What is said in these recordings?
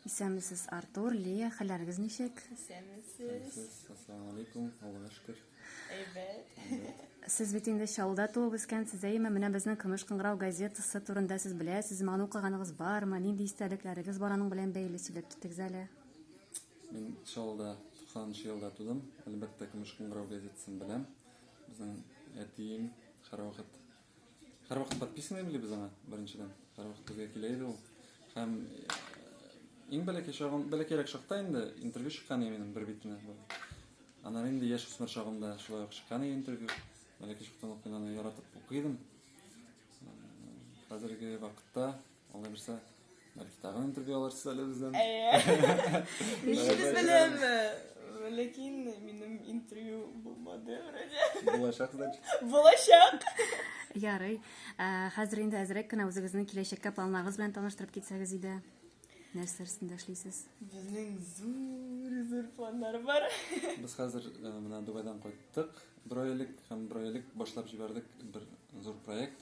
Исәнмесез, Артур, Лия, хәлләрегез ничек? Исәнмесез. Ассаламу алейкум, Аллага шөкер. Әйбәт. Сез бит инде Чаллыда туып үскәнсез, әйеме? Менә безнең Көмеш кыңгырау газетасы турында сез беләсезме? Аны укыганыгыз бармы? Нинди истәлекләрегез бар аның белән бәйле сөйләп китегез әле. Мин Чаллыда 90 елда тудым. Әлбәттә, Көмеш кыңгырау газетасын беләм. Безнең әтием һәрвакыт Һәрвакыт подписаны били без аңа, беренчедән. Һәрвакыт безгә килә иде ул. Һәм иң бәләкәй чагым, бәләкәйрәк чакта инде интервью чыккан иде минем бер битенә. Аннан инде яшь үсмер чагымда шулай ук чыккан иде интервью. Бәләкәй чактан ук мин аны яратып укыйдым. Хәзерге вакытта Алай булса, бәлки тагын интервью алырсыз әле бездән. Әйе. Ничегез беләм, ләкин минем интервью булмады вроде. Булачак, значит. Булачак. Ярый. Хәзер инде әзрәк кенә үзегезнең киләчәккә планнарыгыз белән таныштырып китсәгез иде. Нәрсә өстендә эшлисез? Безнең зур зур планнар бар. Без хәзер менә Дубайдан кайттык. Бер ай элек һәм бер ай элек башлап җибәрдек бер зур проект.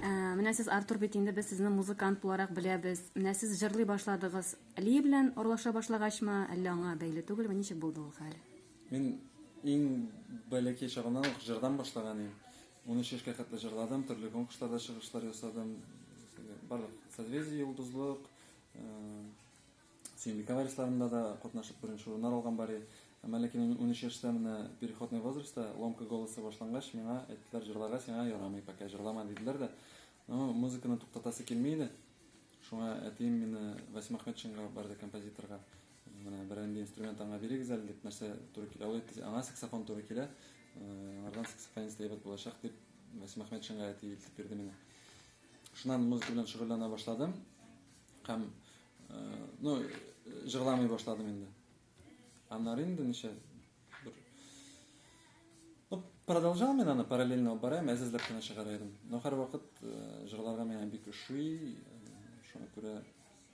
Э, менә сез Артур бит инде без сезне музыкант буларак беләбез. Менә сез җырлый башладыгыз. Ли белән урлаша башлагачмы, әллә аңа бәйле түгелме? Ничек булды ул хәл? Мин иң бәләкәй чагымнан ук җырдан башлаган идем. 13 яшькә хәтле җырладым, төрле конкурсларда чыгышлар ясадым. Барлык созвездие, йолдызлык, э, Сөембикә варисларында да катнашып беренче урыннар алган Бари. Әмма ләкин мин унөч яшьтә менә переходный возрастта, ломка голосы башлангач, миңа әйттеләр, җырларга сиңа ярамый, пока җырлама, диделәр дә. Ну, музыканы туктатасы килми иде. Шуңа әтием мине Васим Ахметшинга барды композиторга. Менә берәр инде инструмент аңа бирегез әле дип, нәрсә туры килә. Ул әйтте, аңа саксофон туры килә. Аңардан саксофонист әйбәт булачак дип, Васим Ахметшинга әти илтеп бирде мине. Шуннан музыка белән шөгыльләнә башладым. Һәм Ну, җырламый башладым инде. Аннары инде ничә бер Ну, продолжал мен аны параллельно алып барам, әзәзләп кенә чыгара идем. Но һәрвакыт э, җырларга миңа бик ошый, э, шуңа күрә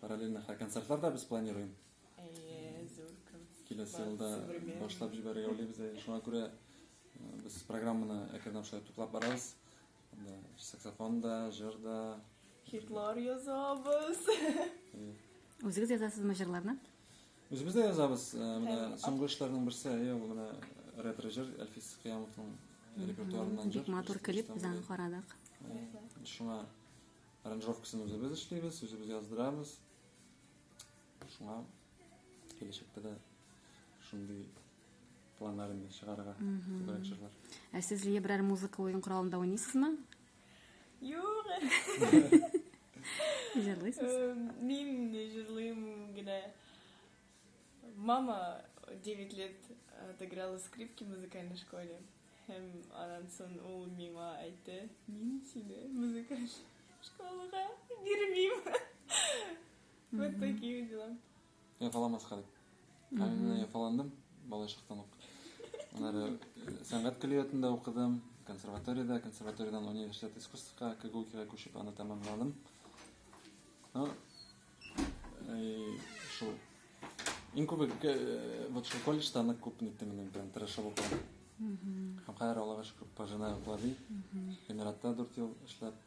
параллельно хә концертлар да без планируем. Әйе, зур концерт. Киләсе елда башлап җибәрергә уйлыйбыз. Шуңа күрә э, без программаны әкренләп шулай туплап барабыз. Да, саксофон да, җыр да. Хитлар язабыз. Үзегез язасызмы җырларны? Үзебез дә язабыз. Э, менә соңгы эшләрнең берсе, әйе, ул менә ретро җыр Әлфис Кыямовның репертуарыннан җыр. Бик матур клип без аны карадык. Шуңа аранжировкасын үзебез эшлибез, үзебез яздырабыз. Шуңа киләчәктә дә шундый планнарында чыгарырга күбрәк җырлар. Ә сез Лия берәр музыка уен коралында уйныйсызмы? Юк. Җырлыйсыз? Э, мин җырлыйм генә. Мама 9 лет отыграла скрипки в музыкальной школе. Һәм анан сон ул миңа әйтте, мин сине музыкаль школага бирмим. Вот такие дела. Яфаламаска дип. Ә мин менә яфаландым балачактан ук. Аннары э, сәнгать көллиятендә укыдым, консерваториядә, консерваториядән университет искусствка, КГУКИга күчеп аны тәмамладым. Ну, э, шул. Иң күбе э, вот шул колледжда нык күп ниттем инде, прям тырышып укыдым. Һәм хәер Аллага шөкер, пожинаю плоды. Эмиратта 4 ел эшләп,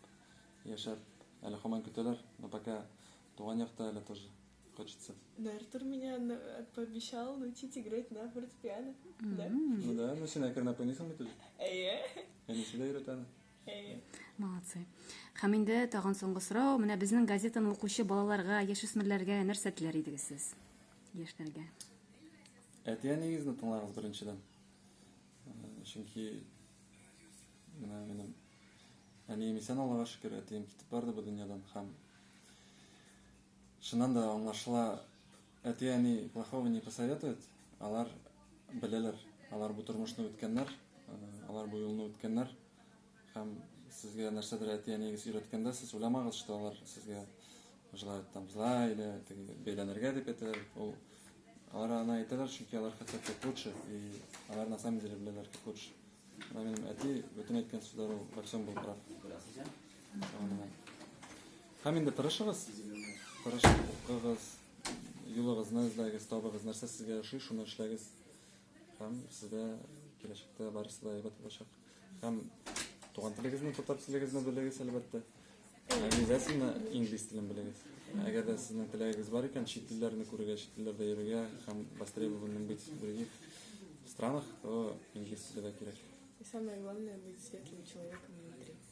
яшәп, әле хаман көтәләр, но пока туган якта әле тоже. Хочется. Но Артур меня э, пообещал научить играть на фортепиано. Да? Ну да, ну сен әкренләп уйныйсың бит уже. Әйе. Әни сиздә өйрәтәне. Әйе. Молодцы. Һәм инде тагын соңгы сорау, менә безнең газетаны укучы балаларга, яшүсмерләргә нәрсә теләр идегез сез? Яшьләргә. Әти-әнигезне тыңлагыз беренчедән. Чөнки менә минем әнием исән Аллага шөкер, әтием китеп барды бу дөньядан һәм Чыннан да аңлашыла, әти-әни плохого не посоветует, алар беләләр, алар бу тормышны үткәннәр, алар бу юлны үткәннәр, һәм сезгә нәрсәдер әти-әниегез өйрәткәндә, сез уйламагыз, что алар сезгә желают там зла или бәйләнергә дип әйтәләр, ул алар аны әйтәләр, чөнки алар хотят как лучше, и алар на самом деле беләләр как лучше. Менә минем әти бөтен әйткән сүзләре, во всем был прав. Һәм инде тырышыгыз, тырышып укыгыз, юлыгызны эзләгез, табыгыз, нәрсә сезгә ошый, шуны эшләгез. Һәм сездә киләчәктә барысы да әйбәт булачак. Һәм туган телегезне, татар телегезне белегез, әлбәттә. Обязательно инглиз телен белегез. Әгәр дә сезнең теләгегез бар икән, чит телләрне күрергә, чит телләрдә йөрергә һәм востребованным быть в других странах, то инглиз теле дә кирәк. И самое главное быть светлым человеком внутри.